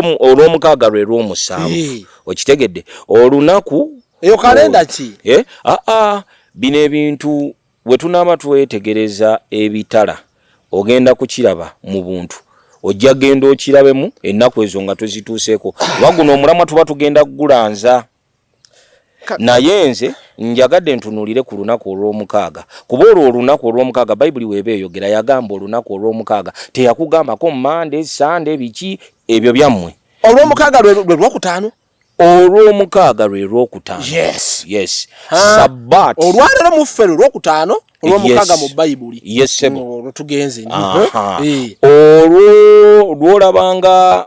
olwomukaaga lwe lwomusanvu okitegedde olunaku eyo kalenda ki eh, aa ah, ah, bino ebintu wetunaaba twetegereza ebitala ogenda kukiraba mu buntu ojja genda okirabemu ennaku ezo nga tuzituuseeko waguno omulamwa tuba tugenda kugulanza naye nze njagadde ntunuulire ku lunaku olw'omukaaga kuba olwo olunaku olw'omukaaga bayibuli weeba eyogera yagamba olunaku olw'omukaaga teyakugambako mande sande biki ebyo byammwe olw'omukaaga lwe lwokutaano olw'omukaaga lwe lwokutaano yes yes sabbat olwalero muffe lwe lwokutaano olw'omukaaga mu bayibuli yes sebo olwo tugenze eh. olwo lwolabanga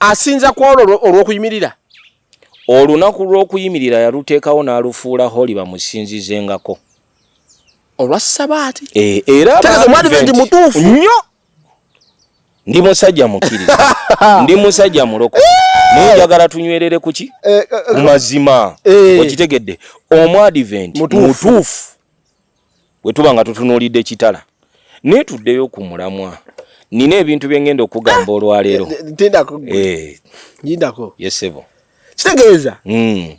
asinza ku olwo olw'okuyimirira olunaku lw'okuyimirira yaluteekawo n'alufuula holi bamusinzizengako olwa sabaati e, era omwadiventi mutuufu nnyo ndi musajja mukkiriza ndi musajja muloko naye njagala tunywerere kuki eh, eh, eh. ku mazima okitegedde omwadiventi mutuufu bwe tuba nga tutunuulidde ekitala naye tuddeyo ku mulamwa nina ebintu bye ngenda okugamba ah! olwaleero ndindako eh. yesebo kitegeeza hmm.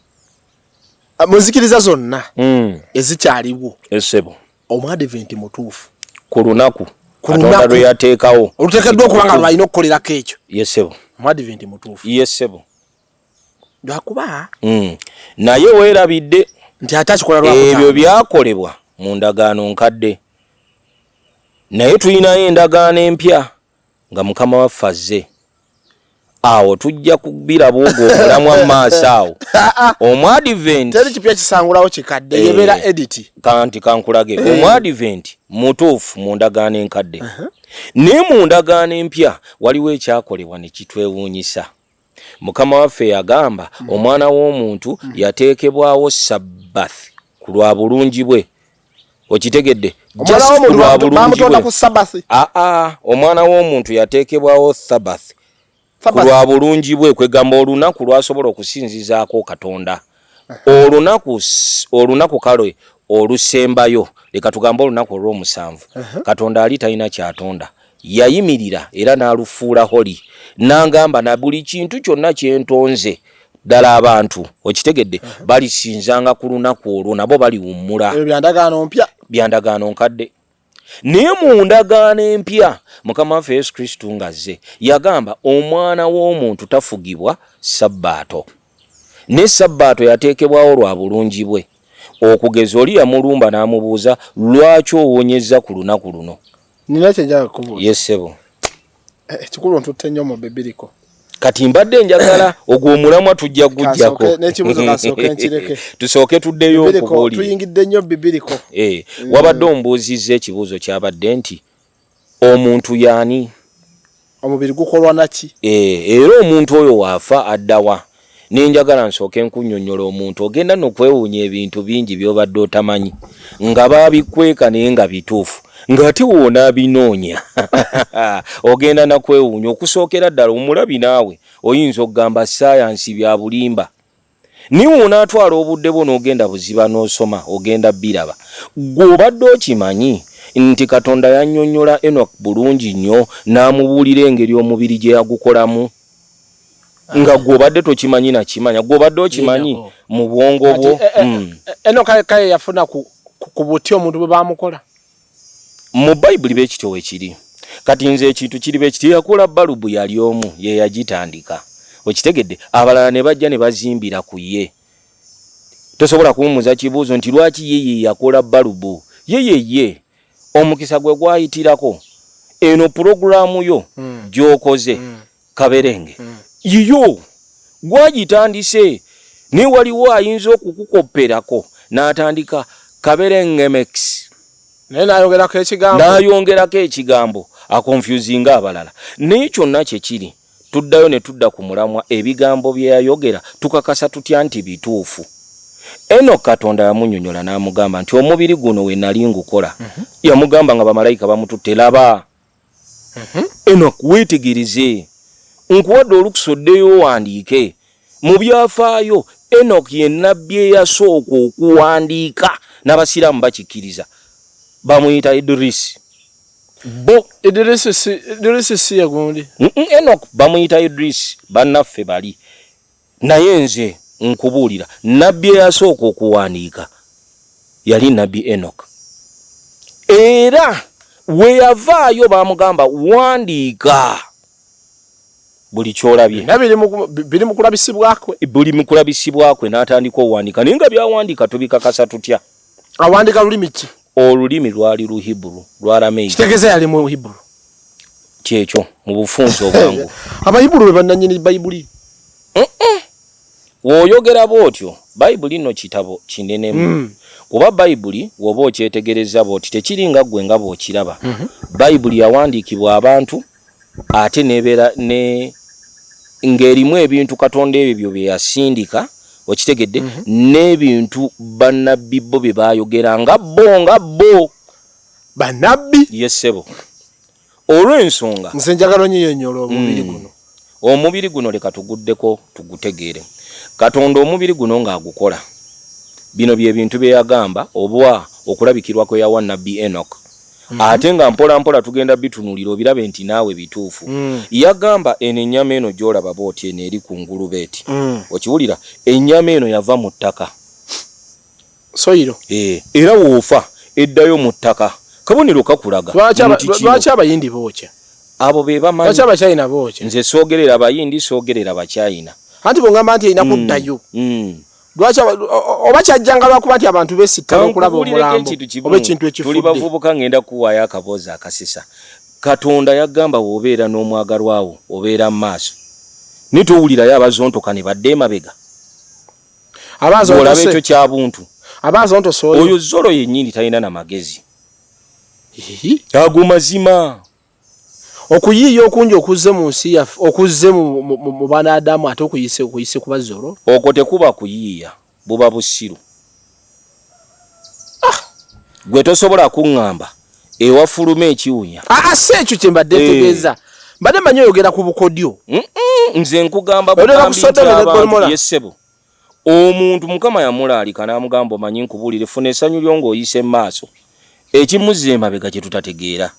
ah, muzikiriza zonna hmm. ezikyaliwo esebo omuadiventi mutuufu ku lunaku katonda lwe yateekawo oluteekeddwa okuba nga lwalina okukolerako ekyo yesebo omuadiventi mutuufu yesebo lwakuba mm. naye weerabidde nti ate akikola lwa ebyo byakolebwa mu ndagaano nkadde naye tulinayo endagaano empya nga mukama waffe azze awo tujja kubiraba ogwo omulamwa mu maaso awo omuadventi teri kipya kisangulawo kikadde eh, yebeera editi kanti kankulage eh. omuadventi mutuufu mu ndagaano enkadde uh-huh. naye mu ndagaano empya waliwo ekyakolebwa ne kitwewuunyisa Mukama waffe yagamba mm. omwana w'omuntu mm. yateekebwawo sabbath ku lwa bulungi bwe okitegedde aa omwana w'omuntu yateekebwawo thabath ku lwa bulungi bwe kwegamba olunaku lwasobola okusinzizaako katonda olunaku olunaku kale olusembayo leka tugambe olunaku olw'omusanvu katonda ali talina kyatonda yayimirira era n'alufuula holi n'angamba na buli kintu kyonna kyentonze ddala abantu okitegedde balisinzanga ku lunaku olwo nabo baliwummula byandagaano nkadde naye mu ndagaano empya mukama waffe yesu kristo ng'azze yagamba omwana w'omuntu tafugibwa sabbaato ne sabbaato yateekebwawo lwa bulungi bwe okugeza oli yamulumba n'amubuuza lwaki owonyezza ku lunaku luno nina kyenjaga kubuuza yesebo Ekikulu eh, ntutte nnyo mu bibiriko. Kati mbadde njagala ogwo omulamwa tujja gujjako. N'ekibuzo kasooke nkireke. Tusooke tuddeyo okubuulire. Tuyingidde nnyo bibiriko. Eh, mm. wabadde ombuuzizza ekibuuzo kyabadde nti omuntu yaani? Omubiri gukolwa naki? Eh, era omuntu oyo waafa addawa? nenjagala nsooke nkunyonyola omuntu ogenda nokwewuunya ebintu bingi byobadde otamanyi nga babikweka naye nga bituufu ngaate woona abinoonya ogenda nakwewuunya okusookera ddala omulabi naawe oyinza okugamba sayansi byabulimba naye woona atwala obudde bwo nogenda buziba nosoma ogenda biraba gwe obadde okimanyi nti katonda yanyonyola enok bulungi nnyo n'amubuulira engeri omubiri gye yagukolamu nga gwobadde tokimanyi nakimanya gwobadde okimanyi mu bwongo bwo eh, eh, hmm. eh, eno kaye yafuna ku buti omuntu bwe bamukola mu bayibuli bekityo wekiri kati nze ekintu kiri bekityo yakula balubu yali omu yeyagitandika okitegedde abalala ne bajja ne bazimbira ku ye tosobola kuwumuza kibuuzo nti lwaki yeye yakola balubu yeyeye omukisa gwe gwayitirako eno pulogulaamu yo mm. gyokoze mm. kaberenge mm. yiyo gwagitandise naye waliwo ayinza okukukopperako n'atandika kaberengemex naye nayongerako ekigambo nayongerako ekigambo akonfusinga abalala naye kyonna kyekiri Tuddayo ne tudda ku mulamwa ebigambo bye yayogera tukakasa tutya nti bituufu? Enock Katonda yamunyonyola n'amugamba nti omubiri guno we nali ngukola. Mhm. Yamugamba nga bamalayika bamututte, laba! Mhm. Enock weetegerize, nkuwadde olukusa oddeyo owandiike. Mu byafaayo, Enoki ye nnabbi eyasooka okuwandiika, n'Abasiraamu bakikkiriza. Bamuyita Idrisi. Bo Idrisi si ye gundi? Enoki bamuyita Idrisi, bannaffe bali. Naye nze nkubuulira, nnabbi eyasooka okuwandiika yali nnabbi Enoki. Era we yavaayo baamugamba, wandiika. buli kyolabye biri mu kulabisibwakwe buli mu kulabisibwakwe n'atandika owandika naye nga byawandika tubikakasa tutya awandika lulimi ki olulimi lwali luhiburu lwaramekitegeza yali mu hiburu kyekyo mu bufunzi obwangu abayiburu be bannanyini bayibuli woyogera bwotyo bayibuli no kitabo kinenemu mm. kuba bayibuli woba okyetegereza bwoti tekiri nga gwe nga bwokiraba mm -hmm. bayibuli yawandiikibwa abantu ate nebeera ne ng'erimu ebintu katonda ebyo byo bye yasindika okitegedde mhm. n'ebintu bannabbi bo bye baayogera nga bo nga bo bannabbi yesebo olw'ensonga nze njagala onyiyonyola omubiri hmm. guno omubiri guno leka tuguddeko tugutegeere katonda omubiri guno ng'agukola bino bye bintu bye yagamba obwa okulabikirwa kwe yawa nabbi enok Mm -hmm. ate nga mpola mpola tugenda bitunulira obirabe nti naawe bituufu mm. yagamba eno ennyama eno gyolaba booti eno eri ku ngulubeeti mm. okiwulira ennyama eno yava mu ttaka soyiro e, era woofa eddayo mu ttaka kabonero kakulaga lwaki abayindi bookya abo be bamanyi abachina bookya nze soogerera abayindi soogerera abachina anti bwongamba nti erina mm, kuddayo mm. lwaki oba kyajjanga lwakuba nti abantu besittala okulaba omulambo oba ekintu ekifudde bavubuka ngenda kuwaayo akaboozi akasisa katonda yagamba wobeera n'omwagalwa wo obeera mu maaso naye towulirayo abazontoka ne badde emabega olaba ekyo kya buntu oyo zolo yennyini talina na magezi ago mazima Okuyiiya okungi okuzze mu nsi yaffe, okuzze mu Banaadamu ate okuyise okuyise kuba zoro. Okwo tekuba kuyiiya, buba busiru. Ah! Gwe tosobola kungamba ewafuluma ekiwunya. Aa ah, ah, si ekyo kyembadde eh. ntegeeza. Mbadde manyi oyogera ku bukodyo. Nze nkugamba bugambi nti abantu ye ssebo. Omuntu Mukama yamulaalika n'amugamba, Omanyi nkubuulire, funa essanyu lyo ng'oyise mu maaso ekimuzza emabega kye tutategeera.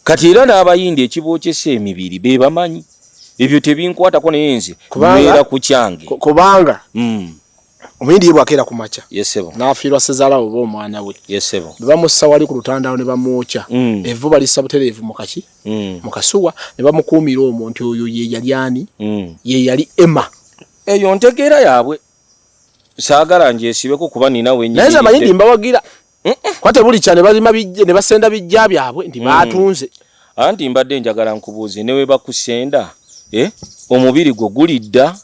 Kati era n'Abayindi ekibookesa emibiri be bamanyi. Ebyo tebinkwatako naye nze mbeera ku kyange. Kubanga hmm. Omuyindi ye bwakeera ku makya n'afiirwa ssezaala we oba omwana we bwe bamussa wali ku lutandaalo ne bamwokya hmm. evvu balissa butereevu mu kaki hmm. mu kasuwa ne bamukuumira omwo nti oyo ye yali ani ye yali Emma. eyo ntegeera yaabwe saagala ngyesibeko kuba nina wenyinaye nze amanyi ndi mbawagira kuba tebuli kya ne balima ne basenda bijja byabwe nti mm. baatunze anti mbadde njagala nkubuuze ne we bakusenda eh, omubiri gwo gulidda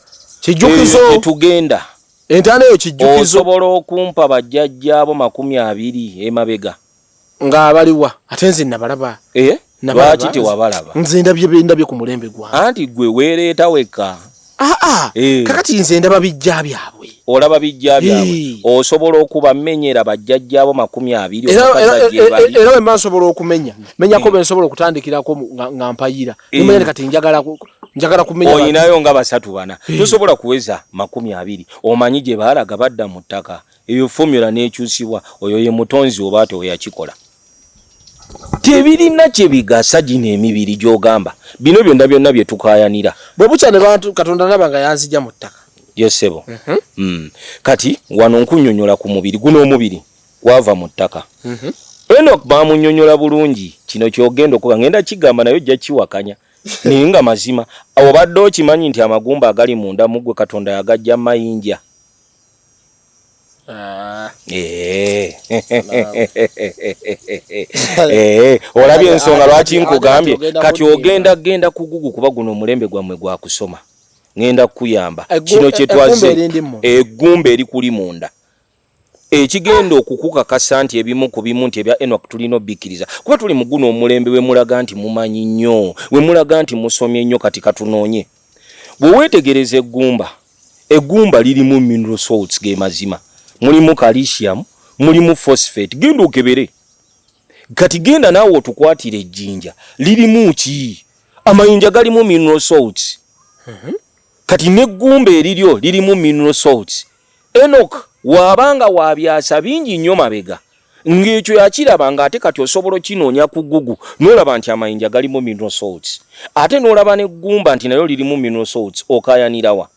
kijjukizo eh, tugenda entana eyo kijjukizo osobola okumpa bajjajjaabo makumi abiri emabega nga abaliwa ate nze nabalaba eh? lwaki tewabalaba nze ndabye bendabye ku mulembe gwa anti gwe weereeta wekka aa ah, ah. eh. kakati nze ndaba bijja byabwe olaba bijja byabwe eh. osobola okubamenyera bajjajjaabo makumi abiri era wemba nsobola okumenya menyako bensobola okutandikirako nga mpayira nemanya kati njagala njagala kumenya olinayo nga basatu bana tosobola kuweza makumi abiri omanyi gye baalaga badda mu ttaka eyo formula nekyusibwa oyo ye mutonzi oba ate oyakikola tebirina kyebigasa gino emibiri gyogamba bino byonna byonna byetukayanira bwebukya ne bantu katonda naba nga yanzija mu ttaka yesebo mm -hmm. mm. kati wano nkunyonyola ku mubiri guno omubiri gwava mu ttaka mm -hmm. enok bamunyonyola bulungi kino kyogenda okuba ngenda kigamba naye ojja kiwakanya naye nga mazima obadde okimanyi nti amagumba agali munda mugwe katonda yagajja mayinja Ah. Eh. Eh, olabye ensonga lwaki nkugambye kati ogenda genda kugugu kuba guno omulembe gwammwe gwakusoma ngenda kukuyamba kino kyetwaze egumba eri kuli munda ekigenda okukukakasa nti ebimu ku bimu nti ebya enok tulina obikkiriza kuba tuli muguno omulembe wemulaga nti mumanyi nnyo wemulaga nti musomye nnyo kati katunoonye Bwe weetegereza eggumba, eggumba lirimu mineral salts ge mazima, mulimu calcium, mulimu phosphate. Genda okebere kati, genda naawe otukwatire ejjinja lirimu ki? Amayinja galimu mineral salts. Mhm. Kati n'eggumba eriryo lirimu mineral salts. Enock waaba nga wa byasa bingi nnyo mabega, ng'ekyo yakiraba ng'ate kati osobola okinoonya ku Google n'olaba nti amayinja galimu mineral salts ate n'olaba n'eggumba nti nayo lirimu mineral salts okaayanira wa?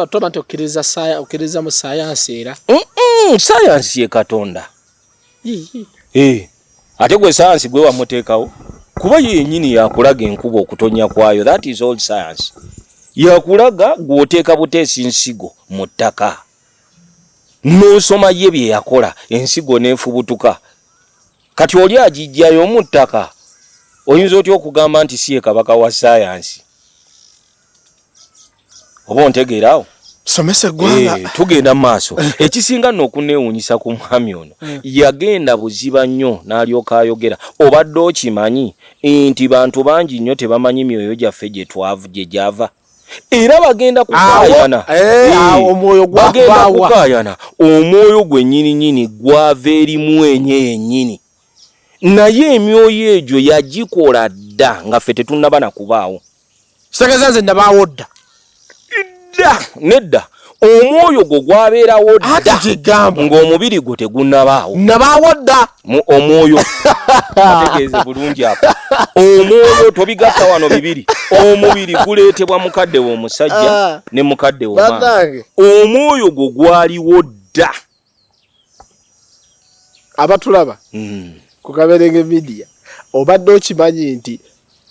Toba tokkiriza mu sayansi era. Sayansi ye Katonda. Eh, ate gwe sayansi gwe wamuteekawo kuba yo yennyini yakulaga enkuba okutonya kwayo that is all science yakulaga gwoteeka buteesi nsigo mu ttaka n'osoma ye bye yakola ensigo n'efubutuka kati oli agijjayo mu ttaka oyinza otya okugamba nti si ye kabaka wa sayansi oba ontegeera awo somesa eggwanga eh, tugenda mu maaso eh. ekisinga nno okuneewuunyisa ku mwami ono eh. yagenda buziba nnyo n'alyoka ayogera obadde okimanyi nti bantu bangi nnyo tebamanyi myoyo gyaffe gye twavu gye gyava era bagenda kukayana omwoyo gwagenda kukayana omwoyo gwe nyini nyini gwava erimu enye yenyini naye emyoyo egyo yagikola dda nga ffe tetunaba na kubaawo sageza nze nabaawo dda dda nedda omwoyo gwo gwabeerawo dda kigamba ng'omubiri gwo tegunabaawo nabaawo dda mu omwoyo ategeeze bulungi apo omwoyo tobigatta wano bibiri omubiri guleetebwa mukadde w'omusajja ah. ne mukadde w'omwana omwoyo gwo gwaliwo dda abatulaba mm. ku kaberenge midiya obadde okimanyi nti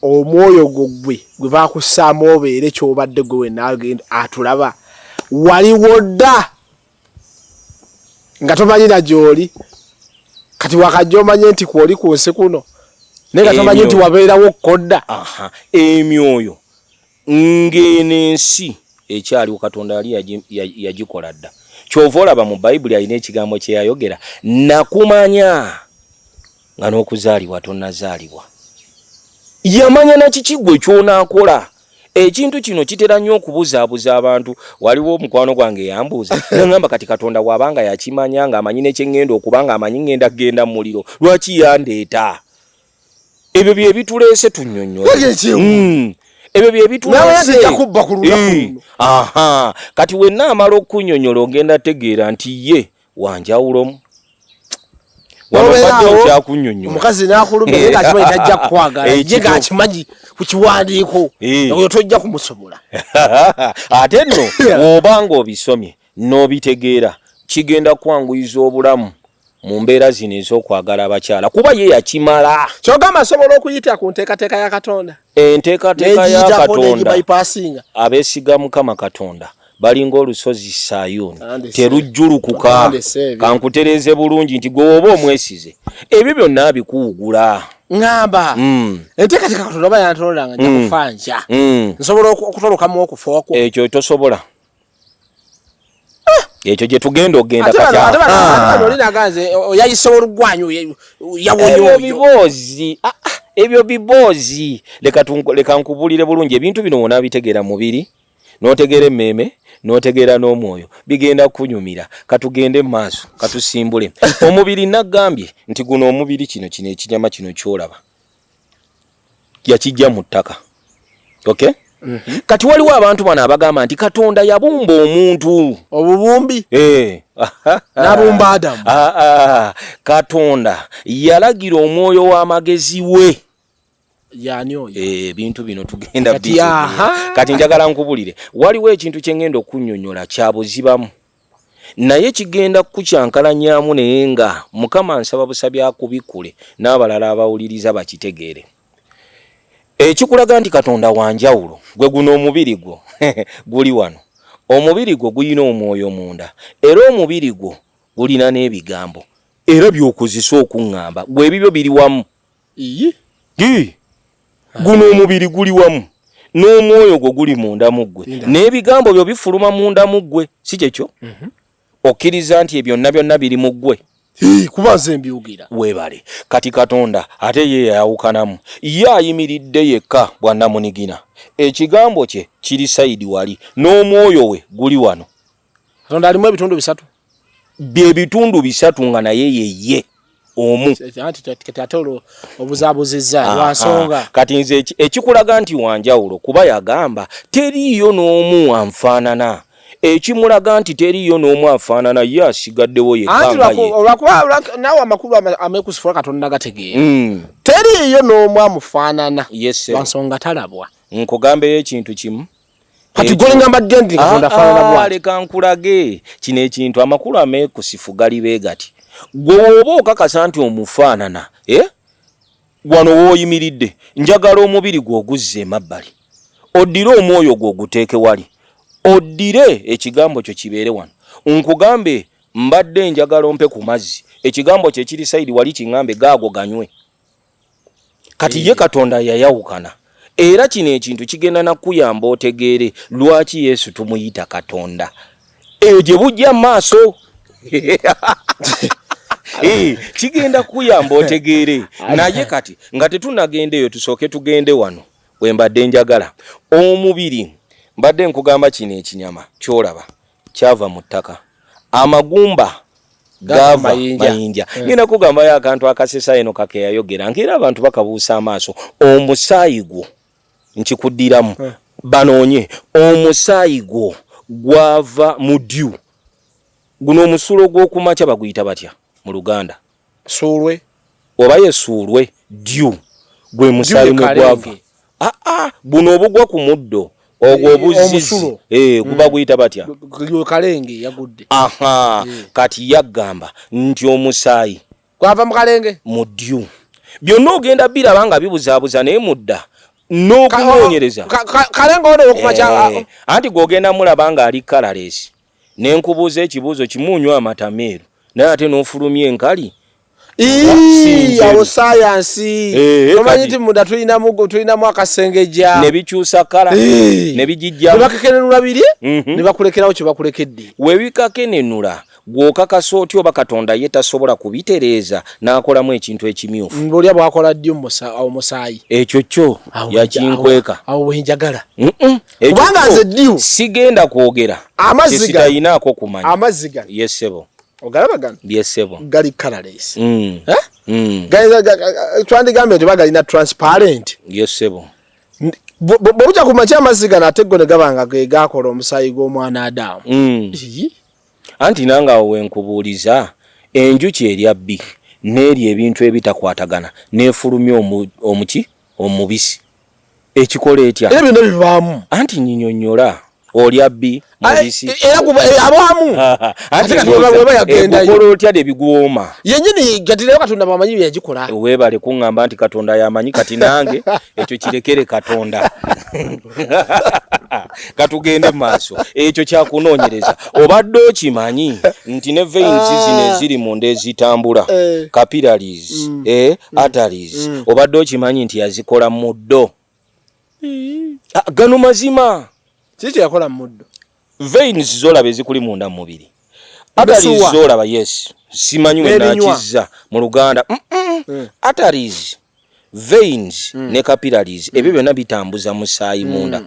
omwoyo gwo gwe gwe bakussaamu obeere kyobadde gwe wenaagenda atulaba waliwo dda nga tomanyira gyoli kati wakajja omanye nti kwoli ku nsi kuno naye nga tomanyi nti wabeerawo kkodda emyoyo ng'eno ensi ekyaliwo katonda yali yagikola dda kyova olaba mu bayibuli alina ekigambo kyeyayogera nakumanya nga n'okuzaalibwa tonazaalibwa yamanya nakikigwe kyonakola ekintu kino kitera nnyo okubuzaabuza abantu waliwo omukwano gwange eyambuuza nangamba kati katonda waabanga yakimanya ng'amanyi nekyeŋŋenda okuba ng'amanyi ŋŋenda kugenda mu muliro lwaki yandeeta ebyo bye bituleese tunyonyo hmm. ebyo bye bituleese hmm. aha kati wenna amala okunyonyola ogenda tegeera nti ye wanjawulomu omukazi nakulumaaajja kukwagalakimanyi kukiwandiiko eh. oyo tojja kumusobola ate nno woba nga obisomye n'obitegeera kigenda kwanguyiza obulamu mu mbeera zino ez'okwagala abakyala kuba ye yakimala kyogamba asobola okuyita ku nteekateeka ya katonda enteekateeka ya katonda abeesiga mukama katonda balinga olusozi sayuni terujjulukuka kankutereeze bulungi nti gwe oba omwesize ebyo byonna abikuwugula ngamba mm. enteekateeka katonda oba yantonda nga njakufa mm. nja mm. nsobola okutolokamu okufa okwo ekyo tosobola ekyo gye tugenda okugenda katiolinaganze ah. oyayise olugwanyu yawonyobiboozi ah, ah, ebyo biboozi leka nkubulire bulungi ebintu bino wona bitegeera mubiri notegeera emmeeme notegeera n'omwoyo bigenda kunyumira katugende maaso katusimbule omubiri nagambye nti guno omubiri kino kino ekinyama kino kyolaba yakijja mu ttaka okay mm -hmm. kati waliwo abantu bano abagamba nti katonda yabumba omuntu obubumbi eh. nabumba adamu ah, ah. katonda yalagira omwoyo w'amagezi we yani oyo eh, ebintu e, bino tugenda kati, kati njagala nkubulire waliwo ekintu kyengenda okunyonyola kyabuzibamu naye kigenda kukukyankalanyaamu naye nga mukama nsaba busabi akubikule n'abalala abawuliriza bakitegeere ekikulaga nti katonda wanjawulo gwe guno omubiri gwo guli wano omubiri gwo gulina omwoyo munda era omubiri gwo gulina n'ebigambo era byokozesa okuŋŋamba gwe ebibyo biri wamu iyi gi guno omubiri guli wamu n'omwoyo gwo guli munda mu ggwe n'ebigambo byo bifuluma munda mu ggwe si kyekyo mhm. okkiriza nti ebyonna byonna biri mu ggwe kuba nze mbyogera weebale kati katonda ate ye yayawukanamu ye ayimiridde yekka bwannamunigina ekigambo kye kiri sayidi wali n'omwoyo we guli wano katonda alimu ebitundu bisatu bye bitundu bisatu nga naye yeye omu ate olwo obuzabuzizza ah, lwansonga ah. kati nze ekikulaga nti wanjawulo kuba yagamba teriiyo n'omu anfaanana ekimulaga nti teriiyo n'omu afaanana ye asigaddewo yeolwakubanaawe amakulu amekusifula katonda gategeera hmm. teriiyo n'omu amufaanana lwansonga talabwa nkugambeyo ekintu kimu kati gole ngamba denti katonda fana na bwa leka nkulage kino ekintu amakulu amekusifu gali be gati gwe oba okakasa nti omufaanana eh wano woyimiridde njagala omubiri gwe oguzze emabbali oddire omwoyo gwe oguteeke wali oddire ekigambo kyo kibeere wano nkugambe mbadde njagala ompe ku mazzi ekigambo kyo ekiri sayidi wali kiŋambe gaago ganywe kati ye katonda yayawukana era kino ekintu kigenda nakuyamba otegeere lwaki yesu tumuyita katonda eyo gye bujja maaso eh, kigenda kuyamba otegeere naye kati nga tetunagenda eyo tusooke tugende wano wembadde njagala omubiri mbadde nkugamba kino ekinyama kyolaba kyava mu ttaka amagumba gava mayinja eh. ngenda mm. kugambayo akantu akasesa eno kakeyayogera ngaera abantu bakabuusa amaaso omusaayi gwo nkikuddiramu mm. banoonye omusaayi gwo gwava mu dyu guno omusulo gw'okumakya baguyita batya mu luganda suulwe oba yesuulwe dyu gwe musaayi mwe gwava aa ah, ah, guno obugwa ku muddo ogwo eh, obuzizi eh, guba mm. guyita batya kalenge yagudde aha eh. kati yagamba nti omusaayi gwava mu kalenge mu dyu byonna ogenda biraba nga bibuzaabuza naye mudda n'okunoonyereza kalenge ono okumakya anti gwogenda mulaba ng'ali kalalesi ne nkubuuza ekibuuzo kimu onywa amata meeru naye ate n'ofulumya enkali awo sayansi eh, eh, omanyi nti munda tulinamu akasengejja nebikyusa kala eh. nebigijjanebakekenenula biri mhm. nebakulekerawo kyebakulekedde webikakenenula gwokakasa otya oba katonda ye tasobola kubitereeza n'akolamu ekintu ekimyufu mbuolya bwakola ddi omusaayi ekyo kyo yakinkweka awo wenjagala kubanga nze diu sigenda kwogera amaziga talina ko kumanya amaziga yesebo ogalaba gano yesebo gali colorless mm. eh? mm. gali twandi gambe nti bagalina transparent yesebo bobuja kumacha amaziga nateggo ne gabanga ge gakola omusayi gwo mwana adamu mm. anti nanga owe nkubuliza enjuki erya bi neri ebintu ebitakwatagana nefulumya omuki omubisi ekikola etya era byonna bibaamu anti nyinyonyola olya bbi mubisi e, era kuba e, abaamu ate kati weba yagendayo ekola otya de bigwoma yenyini kati nayo katonda bwamanyi byeyagikola webale kuŋŋamba nti katonda yamanyi kati nange ekyo kirekere katonda katugende maaso ekyo kyakunoonyereza obadde okimanyi nti ne veins ah. zino eziri munda ezitambula eh. capillaries mm. eh, mm. arteries mm. obadde okimanyi nti yazikola muddo mm. ah, gano mazima kiki yakola muddo veins zolaba ezikuli munda mumubiri arteries zolaba yes simanyi wenakiza mu luganda mm -mm. mm. arteries veins mm. ne capillaries mm. ebyo byona bitambuza musaayi mm. munda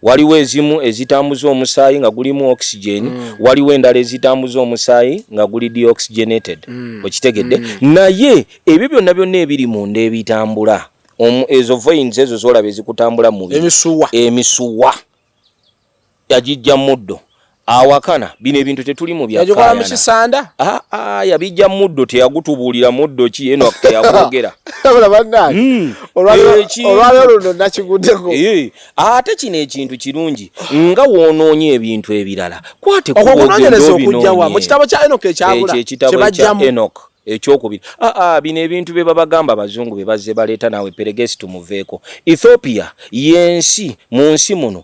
waliwo ezimu ezitambuza omusaayi nga gulimu oxygen mm. waliwo endala ezitambuza omusaayi nga guli deoxygenated mm. okitegedde mm. naye ebyo byonna byonna ebiri munda ebitambula ezo veins ezo zolaba ezikutambula mumisuwa emisuwa yagijja muddo awakana bino ebintu tetuli mu byakikola mu kisanda ah, ah, yabijja muddo teyagutubuulira muddo ki eno teyakwogera hmm. eh, ate kino ekintu kirungi nga woonoonye ebintu ebirala kwateokujawamukitabo kya enok ekyabulakyebajjamu enok ekyokubiri aa ah, ah, bino ebintu bye babagamba abazungu bye bazze baleeta naawe peregesi tumuveeko ethiopia y'ensi mu nsi muno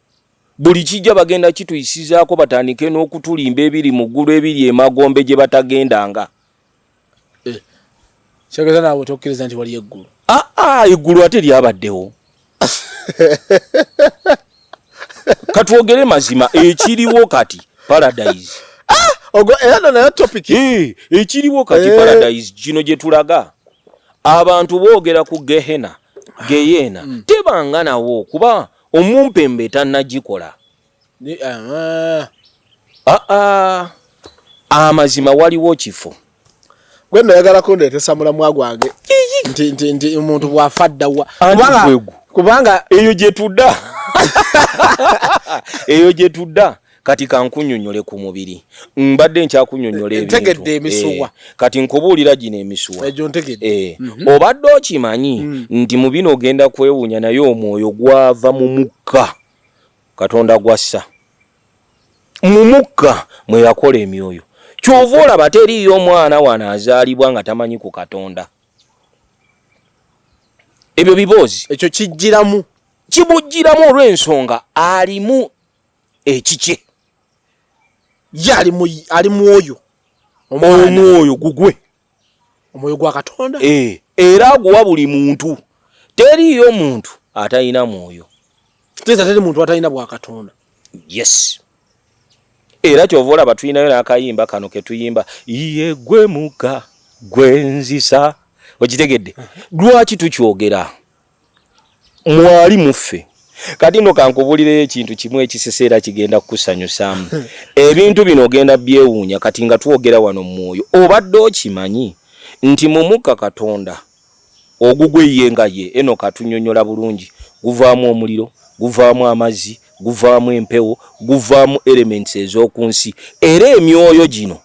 Buli kijja bagenda kituyisizaako batandike n'okutulimba ebiri mu ggulu ebiri emagombe gye batagendanga. Eh, kyageza naawe tokkiriza nti wali eggulu? Aa, ah, ah, eggulu ate lyabaddewo. Katwogere mazima ekiriwo kati paradise. Ah, ogo era no nayo topic. Eh, ekiriwo kati eh. paradise gino gye tulaga. Abantu boogera ku gehena, geyena, mm. tebanga nawo kuba Omumpembe tanagikola. Aa ah, ah. amazima waliwo kifo gwe nayagala kundetesa mulamwa gwange nti nti nti omuntu bwafa ddawa kubanga eyo gye tudda eyo gye tudda kati kankunyonyole ku mubiri mbadde nkyakunyonyola ebintegedde eh, emisuwa kati nkubuulira gino emisuwa egyo ntegedde eh, mhm. obadde okimanyi mm. nti mu bino ogenda kwewunya naye omwoyo gwava mu mukka katonda gwassa mu mukka mwe yakola emyoyo kyova olaba teriiyo omwana wano azaalibwa nga tamanyi ku katonda ebyo biboozi ekyo kijjiramu kibujjiramu olw'ensonga alimu ekikye ye ali mwoyo omwoyo gugwe omwoyo gwa katonda eh, era aguwa buli muntu teriiyo muntu atalina mwoyo teza teri muntu atalina bwa katonda yes era kyova olaba tulinayo n'akayimba kano ketuyimba ye gwe muka gwenzisa okitegedde lwaki tukyogera mwali muffe kati no kankubulireyo ekintu kimu ekisese era kigenda kukusanyusaamu ebintu bino ogenda byewuunya kati nga twogera wano mumwoyo obadde okimanyi nti mumukka katonda ogugwe ye nga ye eno katunyonyola bulungi guvaamu omuliro guvaamu amazzi guvaamu empewo guvaamu elements ezokunsi era emyoyo gino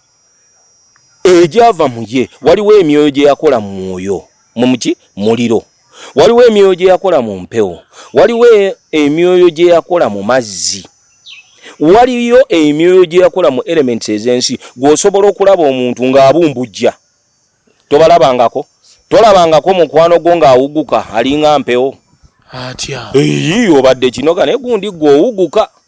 egyava mu ye waliwo emyoyo gye yakola mu mwoyo mu muki muliro waliwo emyoyo gye yakola mu mpewo waliwo e, emyoyo gye yakola mu mazzi waliyo emyoyo gye yakola mu elements ez'ensi gw'osobola okulaba omuntu ng'abumbujja tobalabangako tolabangako mukwano gwo ng'awuguka alinga mpewo atya eyi obadde kinoga naye gundi gw'owuguka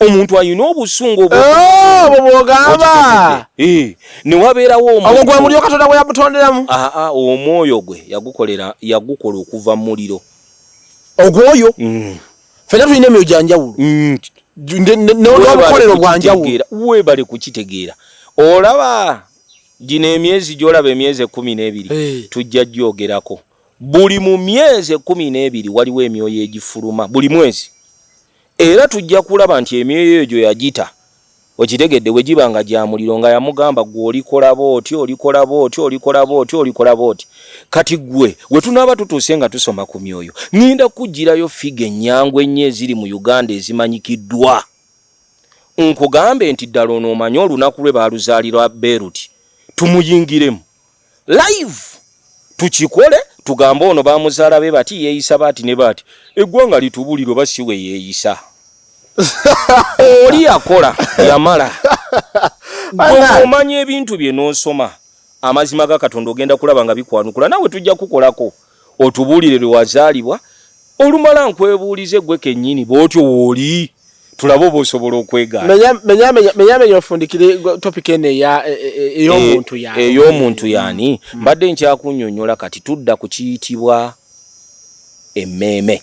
omuntu alina obusungu obwo eh, bwogamba eh, newabeerawo omuo gwe muliro katonda gwe yamutonderamu ah, ah, omwoyo gwe yagukolera yagukola okuva mu muliro ogwoyo mm. fena tulina emyoyo gyanjawulo mm. nobukolero bwanjawulo webale kukitegeera olaba gino emyezi gyolaba emyezi ekumi n'ebiri eh. tujja gyogerako buli mu myezi ekumi n'ebiri waliwo emyoyo egifuluma buli mwezi Era tujja kulaba nti emyoyo eyo gyo yagita, okitegedde, bwe giba nga gya muliro, nga yamugamba, Ggwe olikola bw'oti, olikola bw'oti, olikola bw'oti, olikola bw'oti. Kati ggwe, we tunaaba tutuuse nga tusoma ku myoyo, ŋŋenda kukuggyirayo ffiga ennyangu ennyo eziri mu Uganda ezimanyikiddwa, nkugambe nti ddala ono omanyi olunaku lwe baaluzaalira Beeruti, tumuyingiremu. live tukikole tugambe ono bamuzaala be bati yeeyisa baati ne baati eggwanga litubulire oba si we yeeyisa oli yakola yamala omanya ebintu bye n'osoma amazima ga katonda ogenda kulaba nga bikwanukula nawe tujja kukolako otubuulire lwe wazaalibwa olumala nkwebuulize gwe kennyini bw'otyo wooli tulabe oba osobola okwegaamenyamenya ofundikire topic eno e, e, ey'omuntu e, yani ey'omuntu yani mm. mbadde nkyakunyonyola kati tudda ku kiyitibwa emmeeme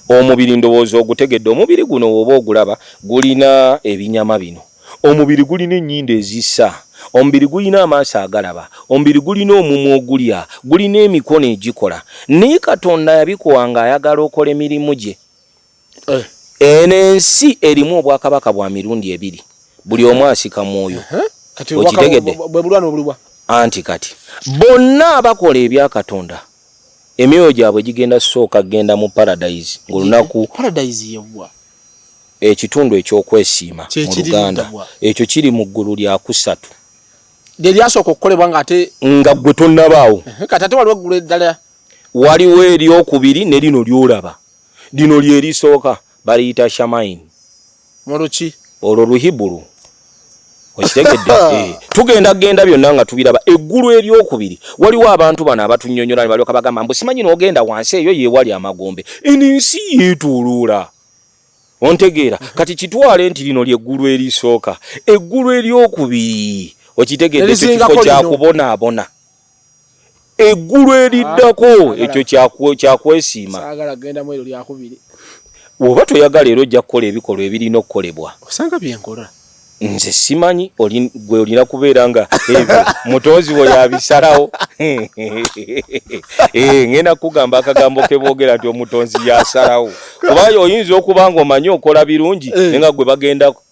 omubiri ndowooza ogutegedde omubiri guno woba ogulaba gulina ebinyama bino Omubiri gulina ennyindo ezissa. Omubiri gulina amaaso agalaba. Omubiri gulina omumwa ogulya. Gulina emikono egikola. Naye Katonda yabikowa ng'ayagala okole mirimu gye. Eno ensi erimu obwakabaka bwa mirundi ebiri. Buli omu asika mwoyo. Okitegedde? Anti kati, bonna abakola ebya Katonda Emyoyo gyabwe gigenda kusooka kugenda mu Paradise ng'olunaku. Paradise ye wa? Ekitundu eky'okwesiima mu Luganda. Ekyo kiri mu ggulu lya kusatu. Lye lyasooka okukolebwa ng'ate. Nga ggwe tonnabaawo. Kati ate waliwo eggulu eddala. Waliwo ery'okubiri ne lino ly'olaba. Lino lye lisooka. baliyita shamain muluki olwo luhibulu okitegedde eh, tugenda genda byonna nga tubiraba eggulu eryokubiri waliwo abantu bano abatunyonyola ne balyoka bagamba mbu simanyi n'ogenda wansi eyo yewali amagombe eno ensi yeetuluula ontegeera mhm. kati kitwale nti lino lyeggulu erisooka eggulu eryokubiri okitegedde ekyo kifo kyakubonaabona eggulu eriddako ah, ekyo kyakwesiima oba toyagala era ojja kukola ebikolwa ebirina okukolebwa osanga byenkola nze simanyi gwe olina kubeera nga ebyo mutonzi wo yabisalawo eh, ngenda kugamba akagambo kebogera nti omutonzi yasalawo oba oyinza okuba nga omanyi okola birungi eh. nenga gwe bagendako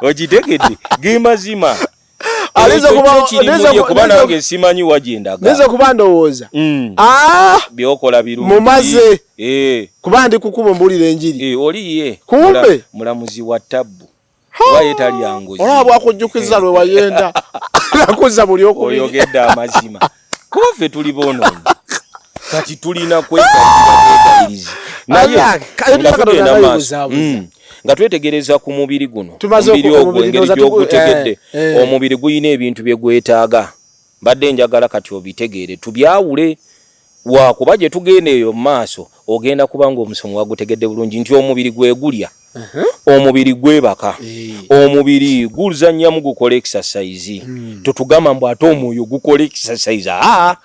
okitegedde gemazima Aliza kuba aliza kuba nange simanyi wajinda. Aliza kuba ndowoza. Mm. Ah, biokola biru. Mumaze. Eh. Kuba ndi kukubo mbuli lenjiri. Eh, oli ye. Kumbe mulamuzi wa tabu. Waye tali yangu. Ola bwa kujukiza lwe wayenda. Nakuza buli okubi. Oyogeda amazima. kuba ffe tuli boonoonyi kati tulina kwekaliriza nayeenda maaso mm. nga twetegereza ku mubiri guno omubiri ogwo engeri gyogutegedde eh, eh. omubiri gulina ebintu bye gwetaaga mbadde njagala kati obitegeere tubyawule wakuba gye tugenda eyo mu maaso ogenda kuba ng'omusomo wagutegedde bulungi nti omubiri gwe gulya uh-huh. omubiri gwebaka omubiri guzanyamu gukola exercise hmm. totugamba mbu ate omwoyo gukola exercise aa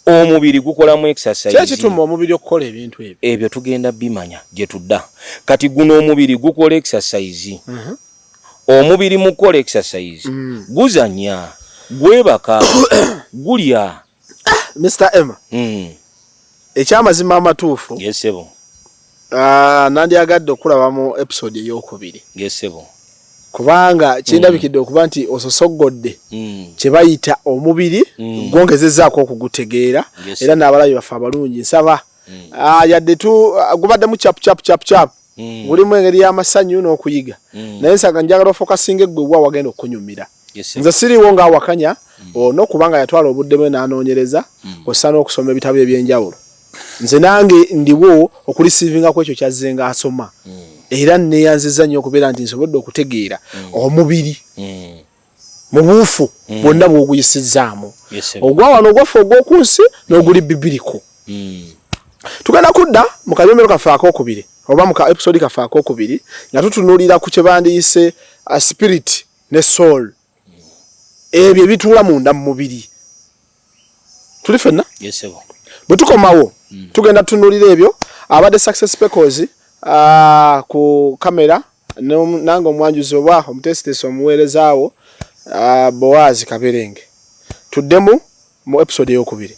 omubiri gukolamu exercisekituma omubiri okukola ebintu ebyo ebyo tugenda bimanya gye tudda kati guno omubiri gukola exercise uh-huh. omubiri mukukola exercise hmm. guzanya gwebaka gulya Mr. Emma. Mm. Ekyamazima amatuufu. Yes sebo. Ah, nandi agadde okulaba mu episode eyokubiri. Yes sebo. Kubanga kindabikidde mm. okuba nti ososogodde mm. kye bayita omubiri mm. gwongezezaako okugutegeera yes, era n'abalabi baffe abalungi nsaba mm. ah, yadde tu ah, gubaddemu chapu chapu chapu chapu mm. mulimu engeri y'amasanyu n'okuyiga mm. naye nsanga njagala ofokasinga eggwe wa wagenda okunyumira nze siriwo nga awakanya mm. ono kubanga yatwala obudde bwe n'anoonyereza mm. ossa n'okusoma ebitabo eby'enjawulo nze nange ndiwo okulisiivinga ku ekyo kyazzenga asoma mm. era neyanziza nnyo okubeera nti nsobodde okutegeera omubiri mu buufu bwonna bwoguyisizzaamu ogwa wano ogwaffe ogw'oku nsi n'oguli bibiriko tugenda kudda mu kayombero kaffe ak'okubiri oba mu ka episode kaffe ak'okubiri nga tutunuulira ku kye bandiyise uh, spirit ne soul ebyo ebituula munda mu mubiri tuli fenna bwe tukomawo mm. tugenda tutunulira ebyo abadde success pecos uh, ku kamera nange omwanjuzi oba omutesitesi omuweerezaawo uh, boazi kaberenge tuddemu mu episode eyokubiri